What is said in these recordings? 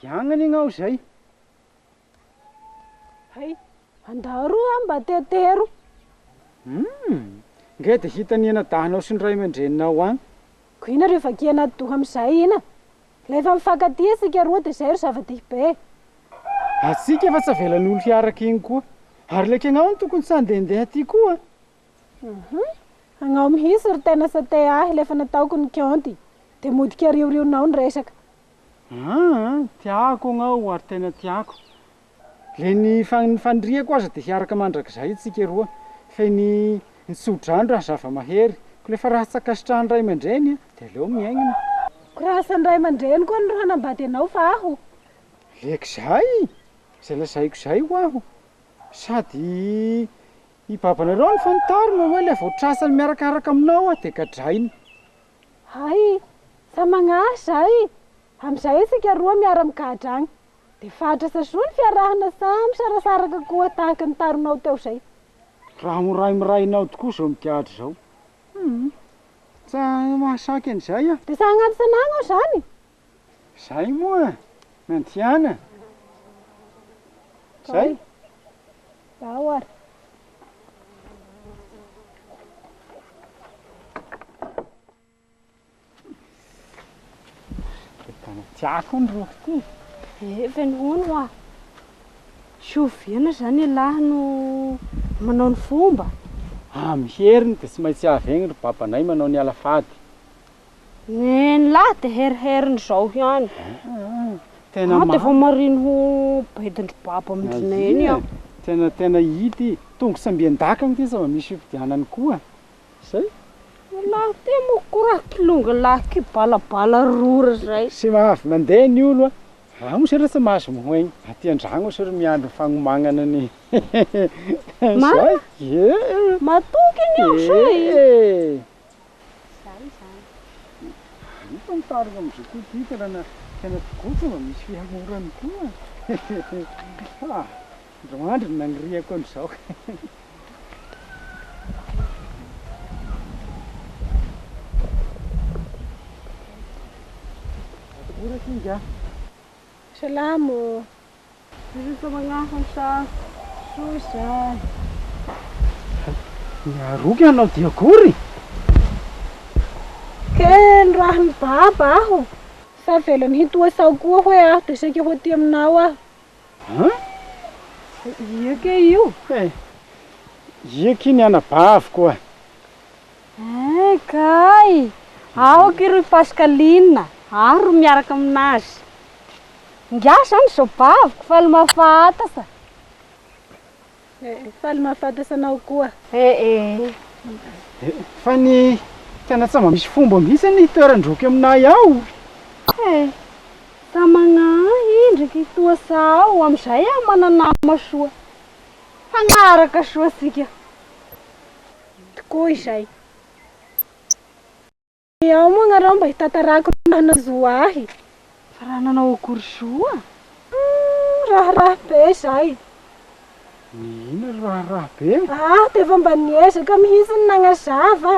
Dia agny anie ngah aho izay. Hay, andaro aho mba tetero. Hum, ngeh dia hita ny henadahinao sy ny ray aman-dreninao agny. Koa ina rehefa akia anaty doha amin'izay ina? Rehefa mifankatia isika roa dia izay ry zava-dehibe e. Hatsiaka fa tsy avelan'olo hiaraka iny koa. Ary ilay kegnaho no tokony tsy handehandeha aty koa. Agnao mihitsy ry tena sate ahy lefa nataoko ny kionty de mody keriorionao ny resaka. Aa tiako agnao ary tena tiako le ny faniriako aza de hiaraka mandrakizay tsika roa fe ny ny tsodrano raha zavamahery ko lefa raha tsy ankasitrahan'ny ray aman-dreny a de aleo miaigna ko raha asan'ny ray aman-dreny koa no hanambady anao fa aho. Le k'izay! Zay lazaiko zay ho'aho sady Hibabanareo ny fanitarana hoe ilay vao trasany miarakaraka aminao aho dia gadraina. Hay! Samy agnaritra zahay e! Amin'izay isika roa miara migadra agny. Dia fahatrasa soa ny fiarahana samy sarasaraka koa tahaka ny taronao teo izay. Raha miray miray anao tokoa izao migadra izao. Humm! Tsa mahasaky an'izay aho. Dia sahy agnaty sanagna aho izany e! Zay moa nandiana zay. Ao ary. Tena tiako ny roko ty. Efa ny hono hoa. Soviana zany ialahy no manao ny fomba. Amin'ny heriny dia tsy maintsy avy egny ry babanay manao ny alafady. Neny lahy dia heriheriny izao ihany. Tena marina. Dia vao mariny ho baidin-dry baba amin-dry neny aho. Tena tena ity tongo sy ambian-dakana ity sao misy fifidianana koa. Izay. Ny lahy ity moa koa raha kilonga lahy k'io balabala rora izay. Tsy mahavy mandeha ny olo a. Raha moa sera tsy mahazo mihaino aty an-dragno sera miandry ny fagnomagnana ny Marina? Matoky ny aho sao e. Zay izany. Hita ny tariny amin'izao koa ity tanàna tena mpikotra mba misy fihamorany koa ah! Ndry mandry no naniriako an'izao. Atokora singa. Salamo. Miroso magnafy sa soa zany. Miaroa ianao dia akory? Kely raha mibaba aho sa avelany hintoha sao koa hoe aho dia saika ho aty aminao aho. An? Ia kay io? Eh, ia kay ny anabaviko a! Eeh kay! Aoka iry Pascaline ary miaraka aminazy. Ngiahy zany izao baviko, faly mahafahatasa. Eeh, faly mahafahatasa anao koa. Eeh. Fa ny tena tsy mba misy fomba mihitsy ny toeran-droky aminay ao. Eeh, sa magnahy indriky toa sao amin'izay aho manana nama soa. Hagnaraka soa tsika. tokoa izay. Dia ao moa ianareo mba hitantarako ny raha nahazoa ahy. Fa raha nanao akory soa? Hum, raharaha be izay. Ny inona ry raharaha be? Ah, dia efa mba niezaka mihitsy ny nanazava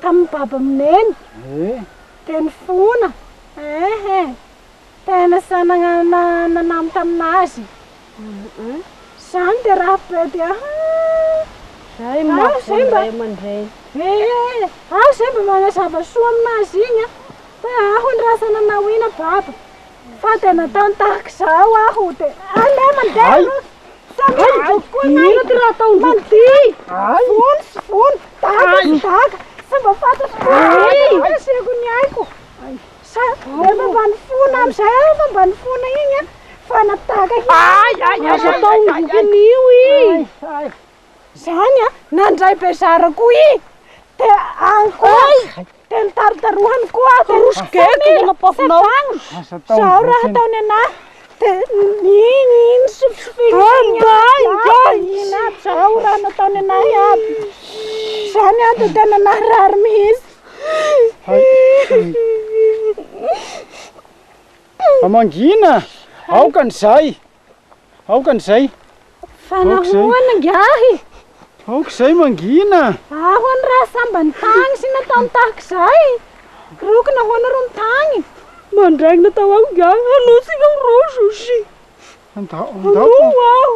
tamin'ny Baba Mineny. Eh. Dia ny fona. Eh eh. Tena sahy nanamo tamin'azy zany dia rafitra ety an! Zay ny maha fo ny ray aman-dreny. Ee, aho izay mba manazava soa amin'azy iny an! Fa aho ny rasa nanao iny an Baba! Fa dia nataony tahaka izao aho dia aleo mandeha aloha sao miova tokoa ny aina! Inona ity raha ataon-dry ity? Vono sy vono, dago sy dago, tsy mba fantatro koa ny asiako ny aiko! Sa efa mba nifona amizay aho efa mba nifona igny a fa natahaka hira azo atao ny bokin'io i zany a nandray bezara ko i te agny koa te nitarotarohany koa aho te satragno zao raha ataony anah te igny i nisofisofigny igny aby zao raha nataony anah iaby zany a de tena naharary mihitsy Mangina! Aoka an'izay! Aoka an'izay! Fa nahoana ingahy? Aoka izay mangina! Ahoana raha samba nitagny sy nataony tahaka izay? Roko nahoana ro nitagny? Mandraigna tao aho ingahy hanontso ireo rojo. Andao, andao. Andao aho.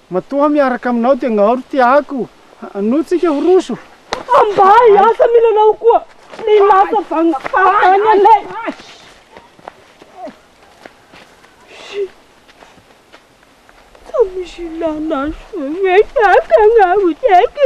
Matoa miaraka aminao dia ngao ry tiako Hanoa tsika ho roso. Ambay asa mila anao koa Ny lasa vagny farany alay Tsy misy ilana azy Rehefa akagny aho tiako